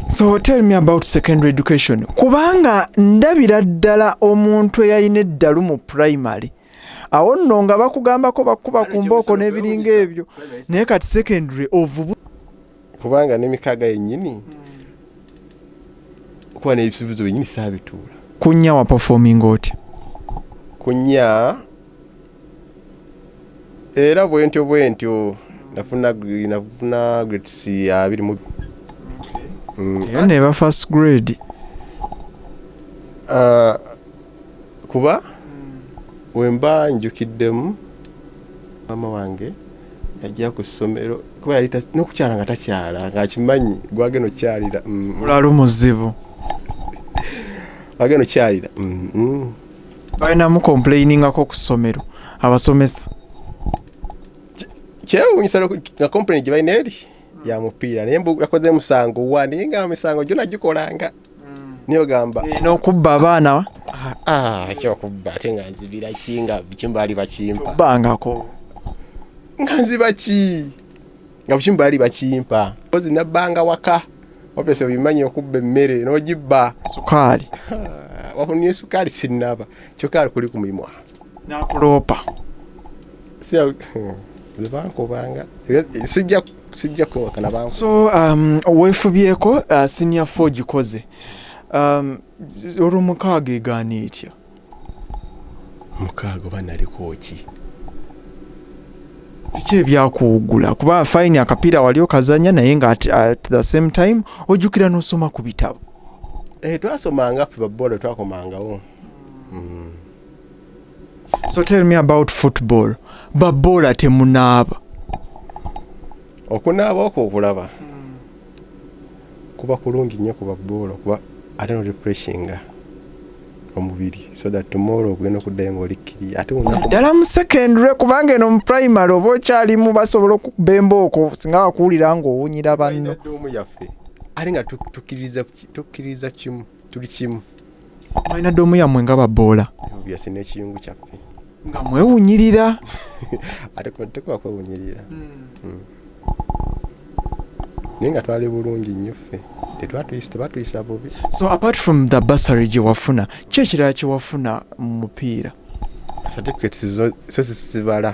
so tell me about secondary education kubanga ndabira ddala omuntu eyalina eddalu mu primary awo nno nga bakugambako bakuba ku mbooko n'ebiringa ebyo naye kati secondary ovubu kubanga nemikaaga yennyini kuba n'ebisuubizo byennyini saabituula kunya waperforming otya kunya era bwentyo bwentyo nafuna nafuna grades abiri mu mm. era neba first grade uh, kuba mm. wemba njukiddemu maama wange yajja ku ssomero kuba yali nokukyala nga takyala ngaakimanyi gwagenda okukyalira mm. olwali muzibu agenda okukyalira mm, mm. balina mukomplainingako ku ssomero abasomesa kyewunyisa nga complain gye balina eri ya mupiira naye mbu yakoze musango wa naye nga misango gyona gikolanga mm. niyo gamba eh, nokubba abaana ah, ah, kyokubba ate nga nzibira ki nga kimbaali bakimpa bangako nga nziba ki nga bukimu baali bakimpa kozi nabbanga waka opesa obimanyi okubba emmere n'ogibba sukaali wakunie sukaali sinnaba kyokka ali kuli ku mulimu awo nakuloopa zebankubanga hmm, sijja sijja kwewakana banku so um, weefubyeko uh, senior fo gikoze um, olwomukaaga egaana etya mukaaga oba naliko ki biki ebyakuwugula kuba fayini akapiira wali okazanya naye nga at, at the same time ojjukira n'osoma ku bitabo eh, twasomanga fe babola twakomangawo mm. so tell me about football babola temunaaba okunaaba okwo okulaba mm. Kuba kulungi nyo kuba ball kuba ate no refreshinga omubiri so that tomorrow ogenda okuddayo nga oli kiriya ate naddala mu secondary kubanga eno mu primary oba okyalimu basobola okukuba embooko singa wakuwulira nga owunyira banno omu yaffe ate nga tukkiririza kimu tuli kimu mulina doomu yammwe nga baboola byasi n'ekiyungu kyaffe nga mwewunyirira ate kuba tekuba kwewunyirira Mm. naye nga twali bulungi nnyo ffe tetwatuyisa tebatuyisa bubi so apart from the bursary gye wafuna ki ekirala kye wafuna mu mupiira certificates zo so zisibala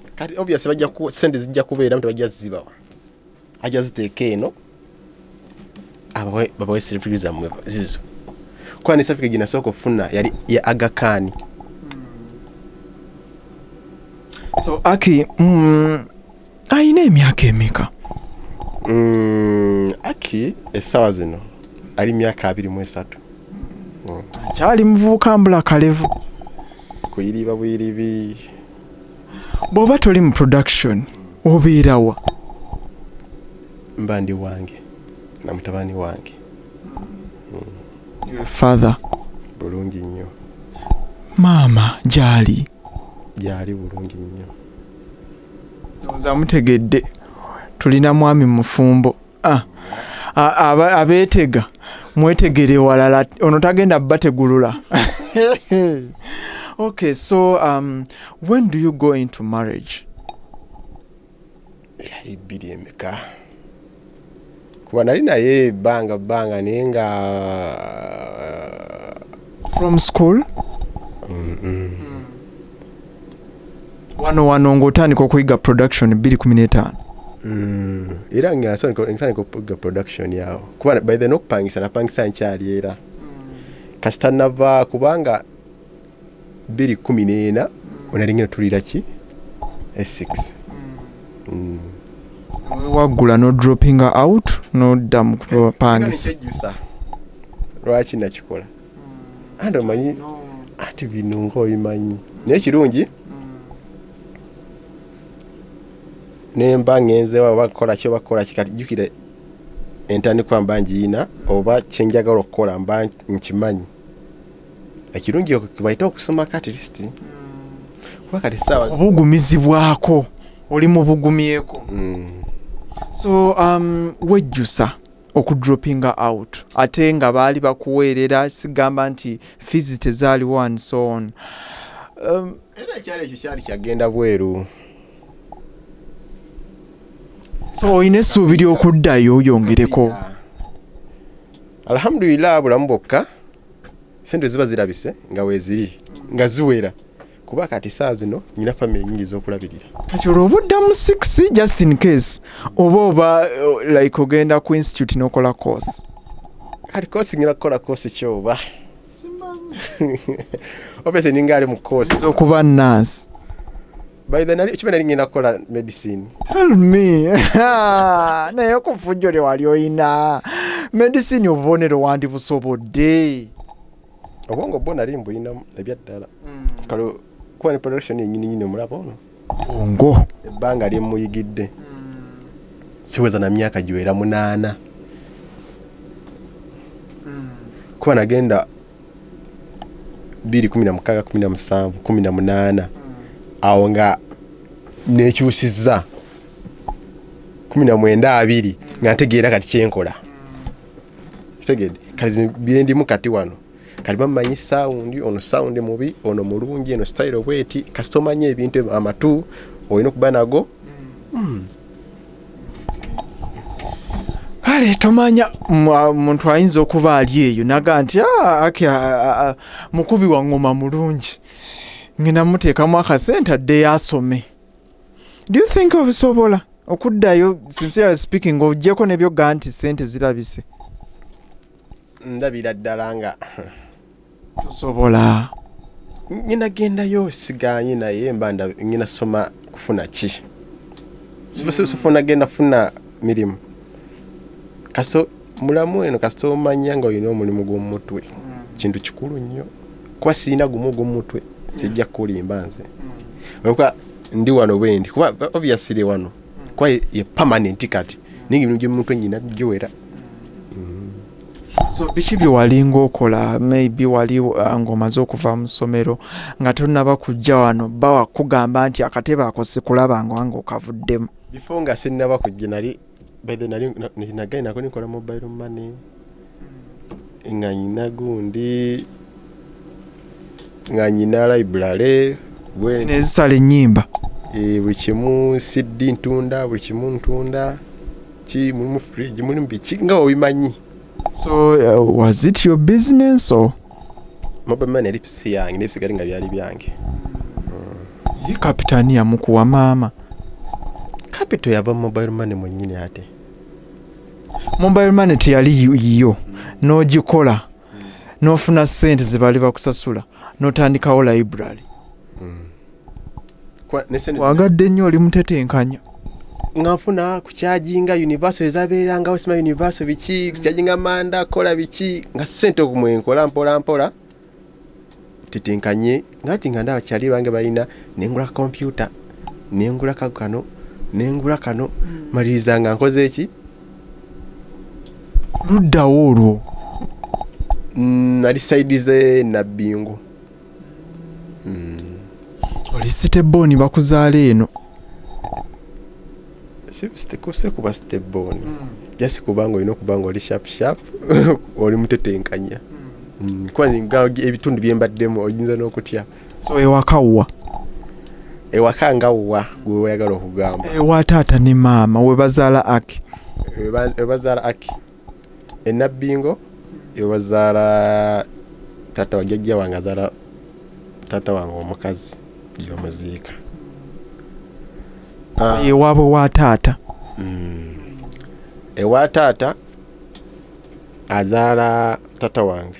kati obvious bajja ku sente zijja kubeera mtu bajja zibawa ajja ziteeka eno abawe babawe certificate zammwe zizo kuba ne certificate ginasooka okufuna yali ya agakani so aki mm, alina emyaka emeka mm, aki essaawa zino ali myaka abiri mu esatu kyali muvubuka mbula kalevu kuyiriba buyiribi bw'oba toli mu production obeerawa mba ndi wange na mutabani wange hmm. father bulungi nnyo maama gyali gyali bulungi nnyo ozamutegedde tulina mwami mufumbo ah, abeetega mwetegere walala ono tagenda bategulula okay so um, when do you go into marriage yali bbiri emeka kuba nali naye ebbanga bbanga naye nga uh, from school mm -mm. Mm. wano wano ng'otandika okuyiga production 215 mm, era ngatandika okuyiga production yawo kuba by the nokupangisa napangisa nkyali era mm. kasita nava kubanga 214 onalingina tulira ki e6 mm. waggula no dropping out nodda mukupangisa lwaki nakikola andi omanyi ati bino nga obimanyi naye kirungi nemba ngenze waba kukola ki oba kukola ki kati jjukira entandikwa mba ngiyina oba kyenjagala okukola mba nkimanyi ekirungi kibaite okusoma kati lisiti kuba kati saawa obugumizibwako oli mubugumyeko mm. so um, wejjusa okudropinga out ate nga baali bakuweerera sigamba nti fees tezaaliwo and so on um, era ekyalo ekyo kyali kyagenda bweru so olina essuubi ly'okuddayo oyongereko alhamdulillah bulamu bwokka sente ziba zirabise nga weeziri nga ziwera kuba kati saa zino nyina famire nyingi zokulabirira kati olwo obuddamu six just in case oba oba uh, like ogenda ku institute nokola course kati course ngina kukola course kyoba obese ninga ali mu course okuba nurse by the nali chimene ngina kukola medicine tell me naye okufujjole wali oyina medicine obubonero wandi busobodde obwongo bwo nali mbulinamu ebyaddala mm. kale kuba ne production yenyininyini omulaba ono ongo ebbanga lyemuyigidde mm. siweza na myaka giwera munaana mm. kuba nagenda biri kumi na mukaaga kumi na musanvu kumi na munaana awo nga nekyusizza kumi na mwenda abiri nga ntegeera kati kyenkola kitegede kati byendimu kati wano kati bamanyi sawundi ono sawundi mubi ono mulungi eno sitayiro bweti kasita omanyi ebintu amatu olina okuba nago hmm. kale tomanya muntu ayinza okuba ali eyo naga nti ah, ah, ah, mukubi wa ngoma mulungi ngenda muteekamu akasente addeyo asome do you think obisobola okuddayo sincerely speaking ojjeko nebyoga nti sente zirabise ndabira ddala nga tosobola nyina gendayo siganye naye mba nyina soma kufuna ki sifuna genda funa mirimu kasita mulamu eno kasita omanya nga olina omulimu gw'omumutwe mm. kintu kikulu nnyo kuba sirina gumu ogw'omumutwe mm. sijja kukulimba nze mm. olwokuba ndi wano bwendi kuba obyasire wano kuba ye permanent kati naye nga ebintu gy'omumutwe nyina bigiwera so biki byewalinga okola maybe wali uh, ngaomaze okuva mu ssomero nga tonaba kujja wano bawa kugamba nti akatebe ako sikulaba nganga okavuddemu before nga sinnaba kujja nali bethe nali nagaye nako nikola mobile money nga nyina gundi nga nyina library zino ezisala ennyimba eh, buli kimu siddi ntunda buli kimu ntunda ki mulimu fridge mulimu biki nga obimanyi so uh, was it your business or mobile money lips yange nebisigale nga byali byange ye kapitani yamukuwa maama capital yava mu mobile money mwennyini ate mobile money teyali yiyo n'ogikola n'ofuna ssente ze baali bakusasula n'otandikawo library hmm. kwagadde nnyo oli mutetenkanya nga nfuna kukyajinga universal ezabeerangawo sima universal biki kukyajinga manda kola biki nga sente okumwenkola mpola mpola tetenkanye nga nti nga ndaba kyali bange balina nengula kompyuta nengula kano nengula kano hmm. maliriza nga nkoze eki luddawo olwo mm, nali saidi ze nabbingu mm. oli sitebooni bakuzaala eno sikuse kuba sitebooni mm. jasi kubanga olina okuba nga oli sharp sharp oli mutetenkanya mm. kuba ebitundu byembaddemu oyinza n'okutya so ewakawwa ewaka nga wa gwe wayagala okugamba ewa taata ne maama webazaala aki webazaala aki e Nabbingo ewazaala taata wa jjajja wange azaala taata wange omukazi gyebamuziika ah. ewaabwe wa taata hmm. ewa taata azaala taata wange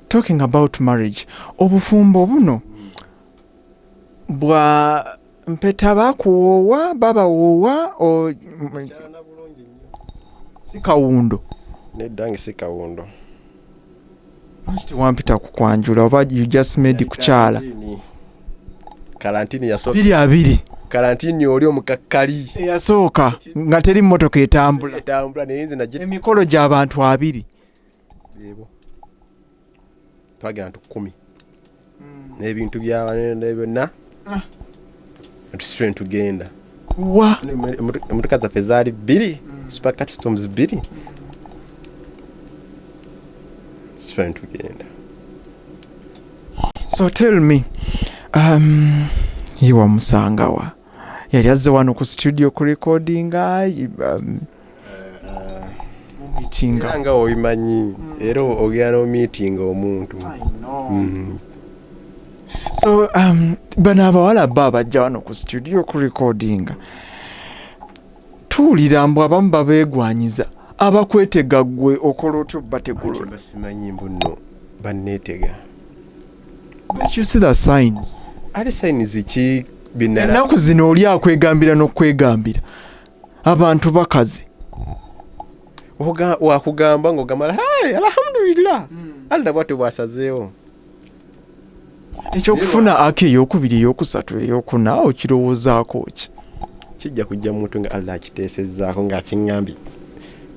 talking about marriage obufumbo buno bwa mpeta bakuwoowa babawoowa o- m- si kawundo nedda nge si kawundo lwaki tewampita ku kwanjula oba you just made kukyala Kalantini. kalantini yasooka biri abiri kalantini oli omukakkali eyasooka nga teri mmotoka etambula etambula naye nze nagi emikolo gy'abantu abiri twagenda ntu kumi hmm. n'ebintu byabanene byonna ah. tusitule ntugenda emotoka zaffe zaali bbiri hmm. super customs bbiri tusitule ntugenda so tell me um, ye wamusangawa yali azze wano ku studio ku recordinga um, era nga obimanyi era ogenda n'omiitinga omuntu mm-hmm. so um, bano abawala ba abajja wano ku studio okurekodinga tuwulira mbu abamu babeegwanyiza abakwetega gwe okola otyo bategulasimanyi mbu no banneetega ate sayinizi ki ennaku zino oli akwegambira n'okwegambira abantu bakazi wakugamba ngaogamala hey, alhamdulillah mm. allah bwati bwasazeewo ekyokufuna aka eyokubiri eyokusatu eyokuna okirowoozaako ki kijja kujja mumuntu nga allah akiteesezaako ngaakiŋambye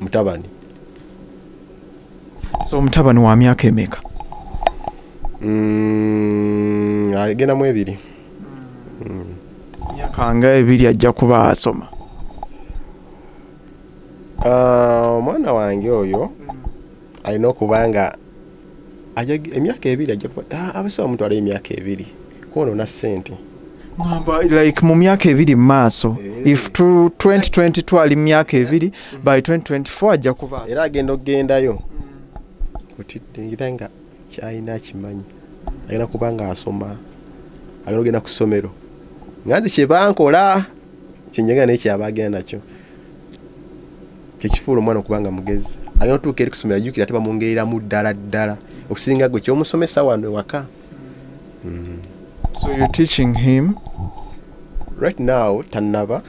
mutabani so omutabani wa myaka emeka mm, agenda mu ebiri myaka nga ebiri ajja kuba asoma Ah, omwana wange oyo alina okuba nga ajag- emyaka ebiri ajja kuba ah, abasawo mutwalayo emyaka ebiri kwonoona ssente ngamba like mu myaka ebiri mu maaso if tu- 2020 twali mu myaka ebiri by 2024 ajja kuba asoma era agenda okugendayo kutidde ngira nga kyalina akimanyi alina kubanga asoma alina ogenda ku ssomero nga nze kyebankola kyenjaga naye kyaba agenda nakyo kyekifuula omwana okubanga mugezi alina otuuka eri kusomero ajukira ate bamwongereramu ddala ddala okusinga gwe kyomusomesa wano ewaka mm. so you teaching him right now tanaba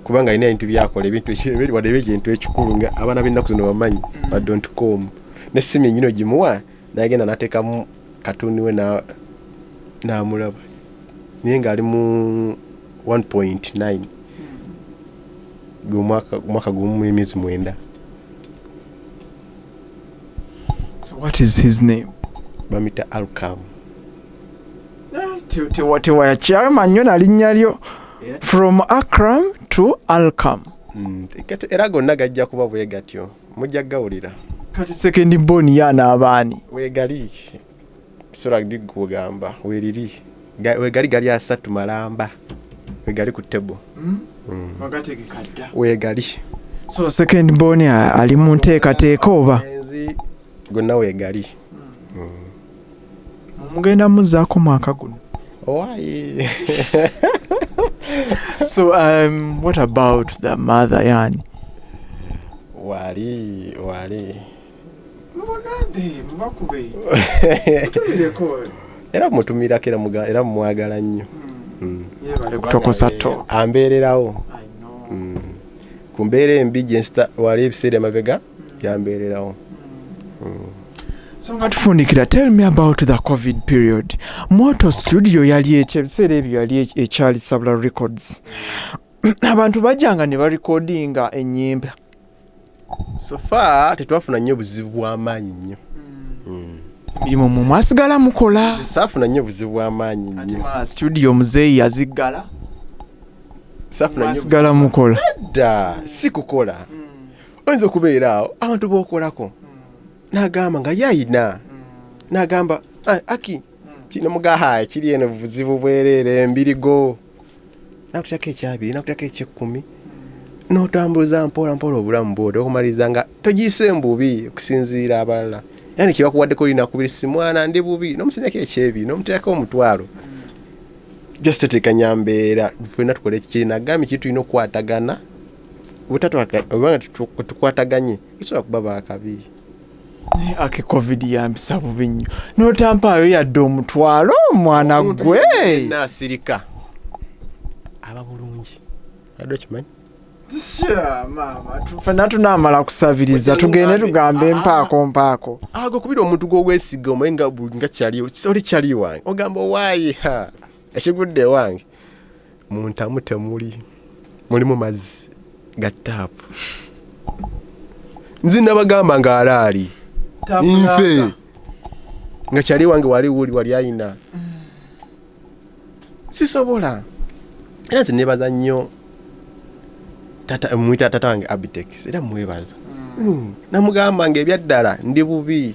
kubanga alina ebintu byakola ebintu wadde ebintu ekikulu nga abaana b'ennaku zino bamanyi badon't come ne simu enyini ogimuwa nagenda natekamu katuni we namulaba naye ngaali mu 1.9 gwomwaka gumu emyezi mwenda what is his name bamita alcam eh, tewayakyama nnyo nalinnya lyo from acram to alcam mm, era gonna gajja kuba bwegatyo mujja gawulira kati second born yana abaani wegali sura ndi kugamba weriri wegali gali asatu malamba wegali ku table mm? Mm. wakati kikadda wegali so second born ali mu nteekateeka oba gonna wegali mm. mm. mugenda muzaako mwaka guno owaaye so um, what about the mother yani wali wali mubagambe mubakube mutumireko era mutumirako era muga- era mumwagala nnyo Mm. yebale kutokosa to Eh, ambeererawo I know. Mm. ku mbeera embi gye nsita wali ebiseera emabega yambeererawo so nga tufundikira tell me about the covid period moto studio yali ekyo ebiseera ebyo yali ekyali sabula records abantu bajjanga ne barekodinga ennyimba sofa tetwafuna nnyo buzibu bw'amaanyi nnyo hmm. emirimu mu mwasigala mukola saafuna nnyo buzibu bw'amaanyi nnyo studio muzeeyi yaziggala saafuna nnyo mukola dda si kukola mm. oyinza okubeera awo abantu bokolako nagamba nga yayina nagamba "Ah, aki kino mugaha kiri eno buzibu bwereere embirigo nakutako ekyabiri nakutako ekyekkumi notambuza mpola mpola obulamu bwoti okumaliza nga togiyise mbubi okusinziira abalala yani kyebakuwaddeko linakubiri simwana ndi bubi nomusinako ekyebiri nomuterako omutwalo just tetekanya mbeera fena tukole ekikiri nagambye kiri tulina okukwatagana obutatwagana tukwataganye tusobola kuba bakabi naye ake covid yampisa bubi nnyo notampaayo yadde omutwalo omwana gwe nasirika aba bulungi adde okimanyi fena tunamala kusabiriza tugende tugamba empaako mpaako ago kubira omuntu gwowesiga omaye nga kyali oli kyali wange ogamba owaye ekigudde wange Mu ntamu temuli mulimu mazzi ga taapu. Nze nabagamba nga alaali nfe nga kyali wange wali wuli wali ayina sisobola era nze nebaza nnyo mwita tata wange abitex era mwebaza hmm. namugamba nga ebyaddala ndi bubi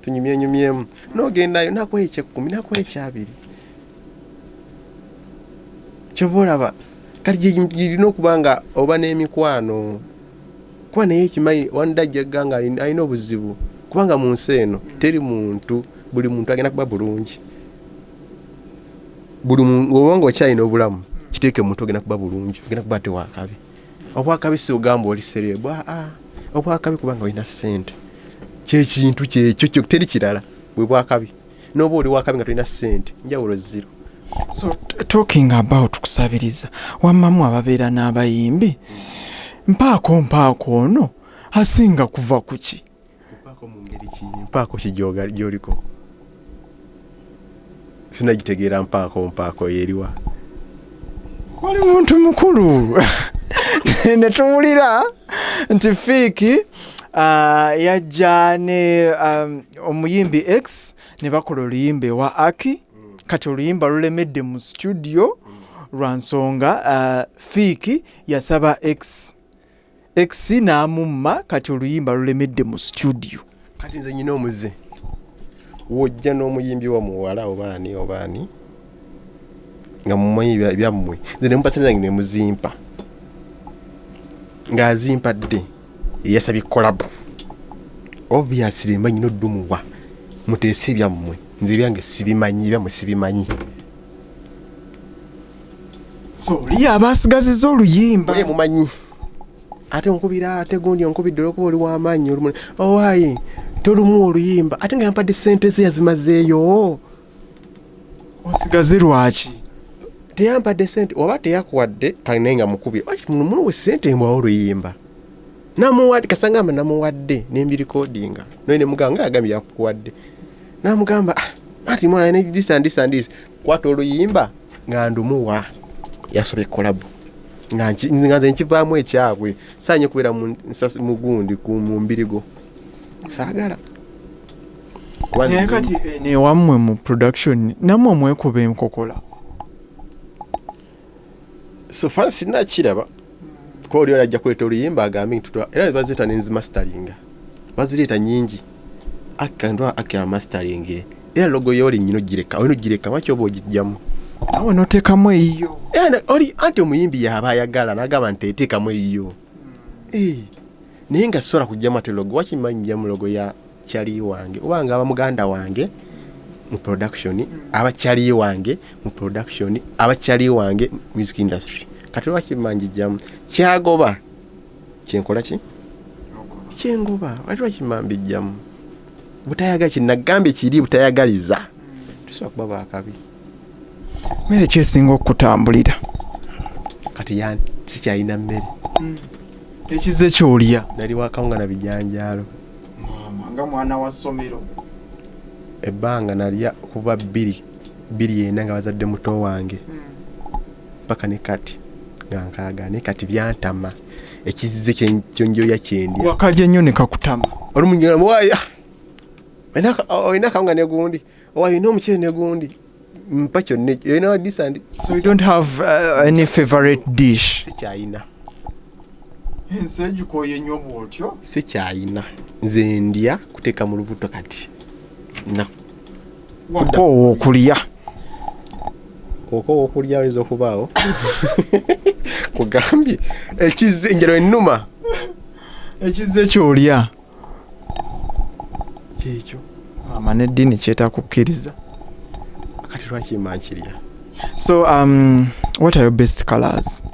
tunyumyenyumyemu nogendayo nakuwa ekyekkumi nakuwa ekyabiri kyova olaba kati gyerina okuba nga oba n'emikwano kuba naye ekimanyi wanda ajjagga nga alina obuzibu kubanga mu nsi eno teri muntu buli muntu agenda kuba bulungi buli oba nga okyalina obulamu kiteeke muntu ogenda kuba bulungi ogenda kuba tewakabi obwakabi siugamba oli serebu aa ah, ah. obwakabi kubanga olina sente kyekintu kyekyo teri kirala bwe bwakabi noba oli wakabi nga tolina sente njawulo ziro so talking about kusabiriza wamamu ababeera n'abayimbi mpaako mpaako ono asinga kuva kuki mpaako mu ngeri ki mpaako ki gyoliko sinagitegeera mpaako mpaako yeriwa oli muntu mukulu ne tuwulira nti fiiki ah, yajja ne um, omuyimbi x ne bakola oluyimba ewa aki kati oluyimba lulemedde mu situdiyo lwa nsonga ah, fiiki yasaba x ex n'amumma kati oluyimba lulemedde mu studio kati nze nyina omuze wojja n'omuyimbi wa muwala obaani obaani nga mumanyi byammwe nze nemupasanange nemuzimpa ng'azimpadde eyasabye kolabu obviously mba nyina oddumuwa muteese ebyammwe nze ebyange sibimanyi ebyammwe sibimanyi soli abaasigaziza oluyimba ye mumanyi ate onkubira ate gundi onkubidde olwokuba oli wamaanyi olumu owaye oh, tolumu oluyimba ate nga yampadde sente ze yazimazeeyo osigaze lwaki teyampadde sente oba teyakuwadde kanaye nga mukubira muwe sente mbwawo oluyimba namuwadde kasangamba namuwadde nembirikodinga noye nemuganga yagambye yakuwadde namugamba ah, ati mwana ne this and this and this kwata oluyimba nga ndumuwa yasobye kolabu nga nki- nga nze nkivaamu ekyabwe saanye kubeera mu nsas- mu gundi ku- mu mbirigo saagala Kuba naye ndi- kati eh, newammwe mu production namwe mwekuba enkokola so fan sina kiraba ko oli ajja kuleta oluyimba agambe nti twa era bazita ne nzi mastering bazireta nyingi akka ndo akka mastering era logo yoli nyino gireka wino gireka wacho obo gijjamu awo no teka mu eyo era oli anti omuyimbi yaba ayagala nagaba nti teka mu eyo eh naye nga sora kujjama te logo wachi manyja mu logo ya chali wange oba nga abamuganda wange mu production aba chali wange mu production aba chali wange music industry kati lwaki manjijjamu kyagoba kyenkola ki kyengoba wali lwaki mambijjamu butayaga kinagambye kiri butayagaliza tusobola kuba bakabi mmere kyesinga okutambulira kati yani sikyalina mmere mm. ekizze kyolya nali wakawunga na bijanjaalo nga mwana wa ssomero ebbanga nalya kuva bbiri bbiri ena nga bazadde muto wange mm. paka ne kati nga nkaaga naye kati byantama ekizze kyonjoya kyendi wakalya nnyo nekakutama olumunyolamuwaya olina kawunga negundi Oh, you know muchele negundi mpa kyonna ekyo you know this and so you don't have uh, any favorite dish sikyayina ensi egikoye nnyo bwotyo sikyayina nze ndya kuteeka mu lubuto kati na wakoowa okulya okoowa okulya oyinza okubaawo kugambye ekize njalo ennuma ekize kyolya kyekyo ama n'eddiini kyetakukkiriza kati lwaki mankirya so um, what are your best colors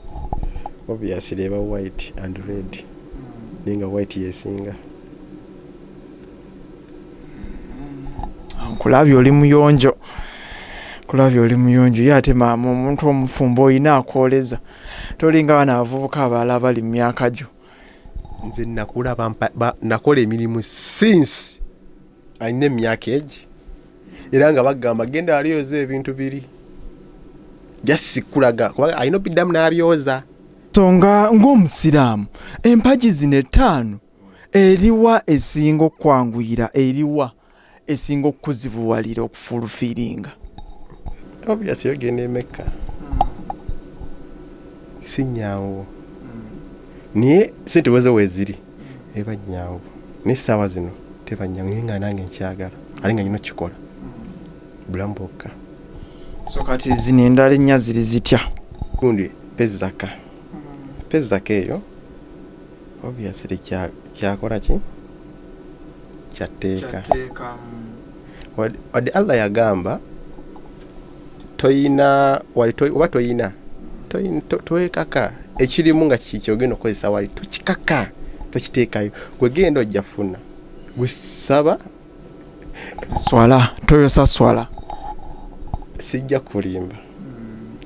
obviously eba white and red naye nga white yesinga nkulabye oli muyonjo kulabye oli muyonjo ye ate maama omuntu omufumbo olina akwoleza tolinga bana abavubuka abalala bali mu myaka gyo nze nakula nakola emirimu since alina emyaka egi era nga bagamba genda alioza ebintu biri jasikulaga kuba alina obiddamu n'abyoza so nga ng'omusiraamu empagi zino ettaano eriwa esinga okukwanguyira eriwa esinga okukuzibuwalira okufulufiiringa obviously ogenda emekka si nyangu naye sente wezo weziri eba nyangu naye saawa zino teba nyangu naye nga nange nkyagala ate nga nyina okukikola bulamu bwokka so kati zino endala ennya ziri zitya gundi pezaka pezaka eyo obviously kya kyakola ki kyatteeka kyatteeka wadde wadde allah yagamba toyina wali toy- oba toyina toyin- to- towekaka ekirimu nga ki- kyogenda okukozesa wali tokikaka tokiteekayo gwe genda ojja funa gwe saba swala toyosa swala sijja kulimba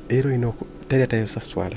era olina oku- teri atayosa swala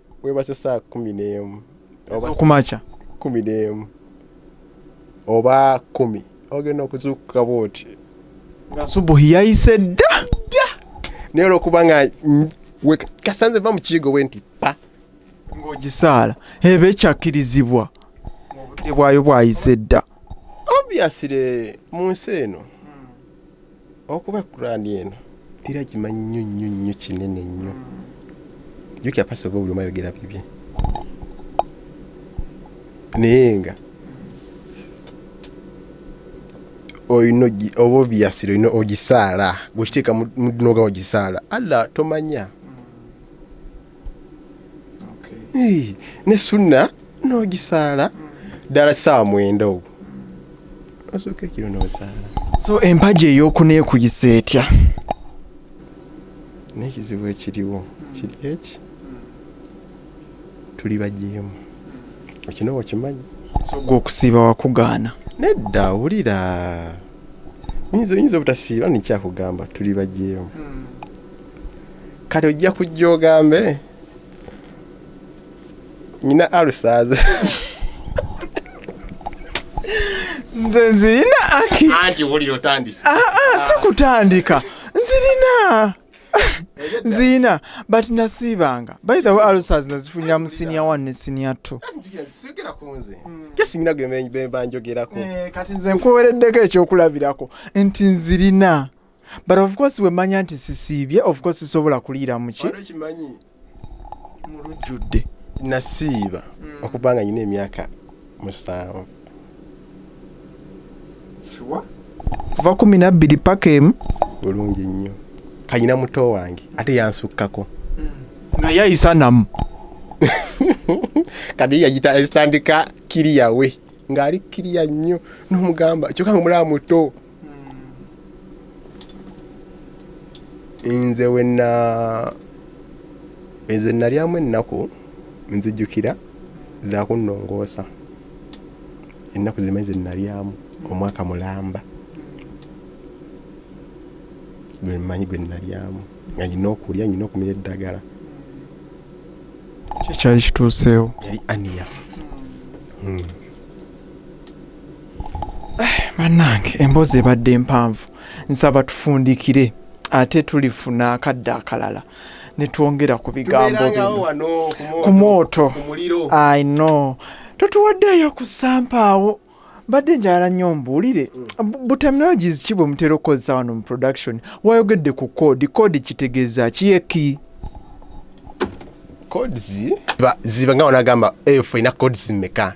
webase saa kumi n'emu ez'okumakya kumi n'emu oba kumi ogenda okuzuukuka bwoti nga subuhi yayise dda dda naye olwokuba nga mm, we- kasanze va mu kiigo bwe nti pa ng'ogisaala eba ekyakkirizibwa obudde bwayo bwayise dda obviously mu nsi eno Okuba Kurani eno era gimanyi nnyo nnyo nnyo kinene nnyo. Jukira pastor buli omu ayogera bibye. Naye nga olina oba obviously olina ogisaala gwekiteeka noga ogisaala Allah tomanya ne sunna n'ogisaala ddala ssaawa mwenda ogwo osooka ekiro n'osaala so empagi ey'okuneekuyisa etya n'ekizibu ekiriwo kiri eki tuli bajeemu ekino wakimanyi so gwe okusiiba wakugaana nedda wulira oyinza obutasiiba nikyakugamba tuli bajeemu hmm. kati ojja kujja ogambe nyina alusaaze nze nzirina aki anti wulira otandise ah, ah, si kutandika nzirina nzirina but nasiibanga by the way alusaazi nazifunira mu siniya one ne siniya two kesingina gwe bemba njogerako eh, kati nze nkuwereddeko ekyokulabirako nti nzirina but of course wemanya nti sisiibye of course sisobola kuliira muki kimanyi mulujjudde nasiiba mm. okuba nga nyina emyaka musanvu kuva kumi nabbiri paka emu bulungi nnyo kanyina muto wange ate yansukkako mm. nga yayisanamu kati yagitandika kiriyawe ng'ali kiriya nnyo n'omugamba kyoka nga omulaba muto nze wena nze nalyamu ennaku nzijukira zakunnongoosa ennaku zimanyi ze nalyamu omwaka mulamba gwe mmanyi gwe nalyamu nga nyina okulya nyina okumira eddagala kyekyali kituuseewo yali ania hmm. bannange emboozi ebadde empanvu nsaba tufundikire ate tulifuna akadde akalala netwongera ku bigambo bino ku mwoto i know totuwaddeeyo ku sampaawo mbadde njala nnyo mbuulire mm. buterminologies ki bwe mutera okukozesa wano mu production wayogedde ku code code kitegeeza kiyeki codes ziba nga wanagamba eyo eh, ffe ina codes mmeka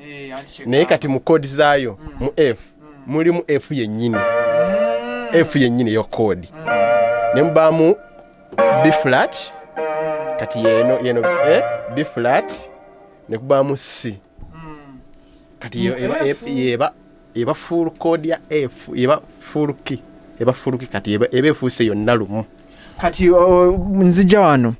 eh, naye kati mu kodi zaayo mm. mu f mm. mulimu f yennyini f yennyini yo kodi ne mubaamu bflat kati yeno yeno eh, bflat ne kubaamu c kati yeba eba full code ya f eba full key eba full key kati eba ebe fuse yonna lumu kati nzija wano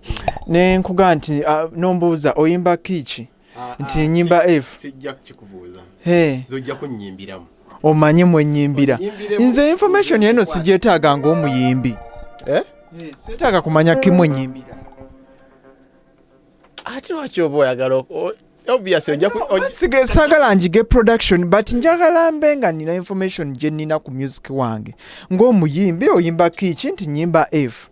ne nkuga nti nombuuza oyimba kiiki ah, nti ah, enyimba f sijja kukikubuuza he zojja kunyimbiramu omanye mwenyimbira nze information eno sijetaaga ngaomuyimbi eh? eh, setaaga kumanya kimwenyimbira ate lwaki oba oyagala sagala njige production but njagala mbe nga nina information gye nina ku music wange ng'omuyimbi oyimba kiiki nti nyimba f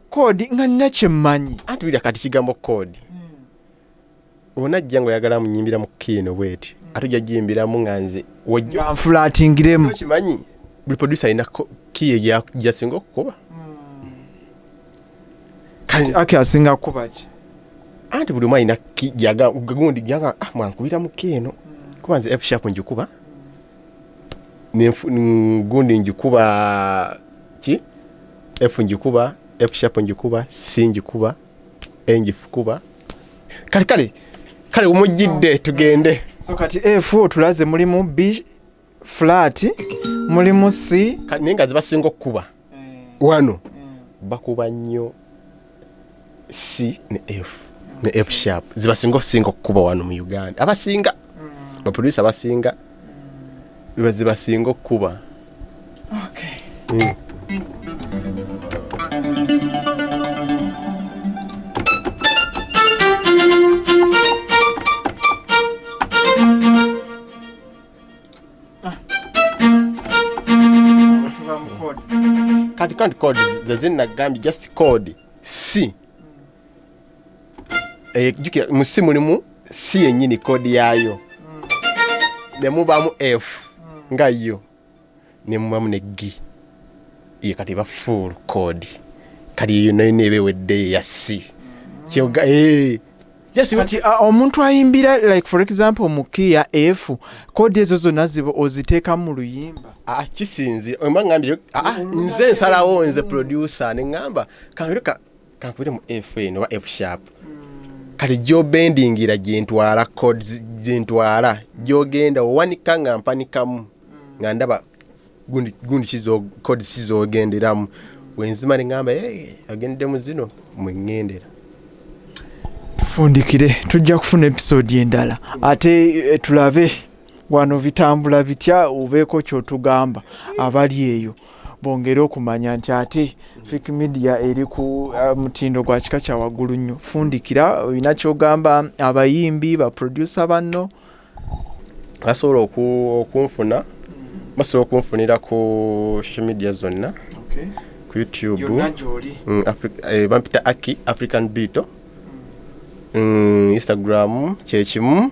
koodi nga nina kyemmanyi anti wulira kati kigambo koodi hmm. ona ajja nga oyagala munyimbira mu kiino bweti hmm. ate ojja jimbiramu nga nze wojnfulatingiremu kimanyi buli producer alina kiye gyasinga okukuba hmm. ake asinga kukuba ki anti buli omu alina gundi gyaga ah, mwankubira mu kiino kuba nze fshapu njikuba gundi ngikuba ki f ngikuba f sharp ngikuba c ngikuba e ngikuba kale kale kale omujjidde tugende so kati f otulaze mulimu b flat mulimu c naye nga zibasinga okukuba eh. wano eh. bakuba nnyo c ne f ne f sharp zibasinga okusinga okukuba wano mu uganda abasinga mm. baproducer abasinga biba zibasinga okukuba okay. mm. Ah. kati kanti code zezinagambye just code si eh, jukira mu si mulimu si yennyini kodi yaayo mm. nemubamu f mm. nga yo nemubamu ne gi ye kati ba full code kati eyo nayo neeba eweddeyo eya si kyoga eh, kati omuntu ayimbira like for example mukiya f kodi ezo zonna ziba oziteekamu mu luyimba ah, kisinzi oba ngambye ah, nze nsalawo nze producer ne ŋŋamba kangeruka kankubire mu fn oba fsharp kati gyobendingira gyentwala codes gyentwala gyogenda owanika nga mpanikamu nga ndaba gundi gundi kizo code sizogenderamu wenzima nengamba hey, agendde mu zino mwengendera tufundikire tujja kufuna episode endala ate eh, tulabe wano bitambula bitya obeeko kyotugamba abali eyo bongere okumanya nti ate fik media eri ku uh, mutindo gwa kika kya waggulu nnyo fundikira olina kyogamba abayimbi baprodusa banno basobola okunfuna basobola okunfunira ku social media zonna ku youtube mm, eh, bampita aki african beato mm. mm, instagram kyekimu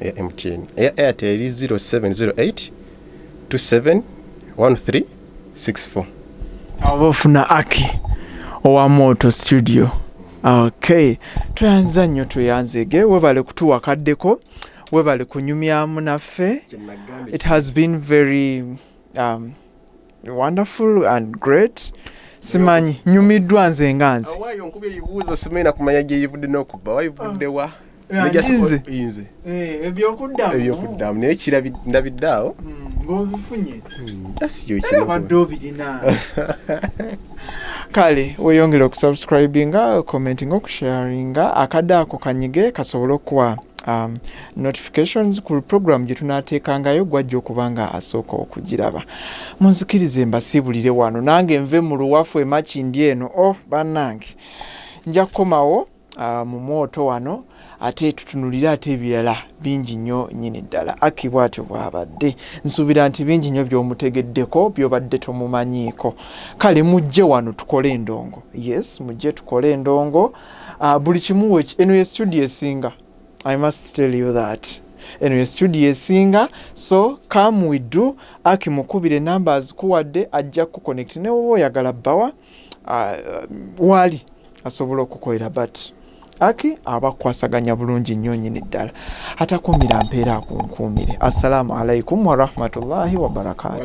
eya MTN eya Airtel eri 0708 27 1364 awo bafuna aki owa moto studio ok tweyanza nnyo tweyanzege webale kutuwa kaddeko webale kunyumyamu naffe it has been very um, wonderful and great simanyi nyumiddwa nze nga nze awaayo nkuba ebibuuzo simanyi nakumanya gyeyivudde n'okubba wayivudde wa Ah, Nejja nze. siko- inze Eh, ebyokuddamu ebyokuddamu naye kirabi- ndabidde awo Mm, ng'obifunye asiyo era obadde obirina kale weyongere okusubscribinga commentinga okusharinga akadde ako kanyige kasobole okuwa um, notifications ku program gyetunateekangayo gwajja okuba nga asooka okugiraba munzikirize mbasiibulire wano nange nve mu luwafu emakindi eno o oh, bannange nja kukomawo uh, mu mwoto wano ate tutunulire ate ebirala bingi nnyo nyini ddala aki bwatyo bwabadde nsuubira nti bingi nnyo byomutegeddeko byobadde tomumanyiiko kale mujje wano tukole endongo yes mujje tukole endongo uh, buli kimu eno ye studio esinga I must tell you that eno ye studio esinga so come we do aki mukubire namba azikuwadde ajja kuconnect ne woba oyagala bawa uh, wali asobola okukolera but aki abakwasaganya bulungi nnyo nyini ddala atakuumira mpeera akunkuumire assalamu alaikum warahmatullahi wabarakatuh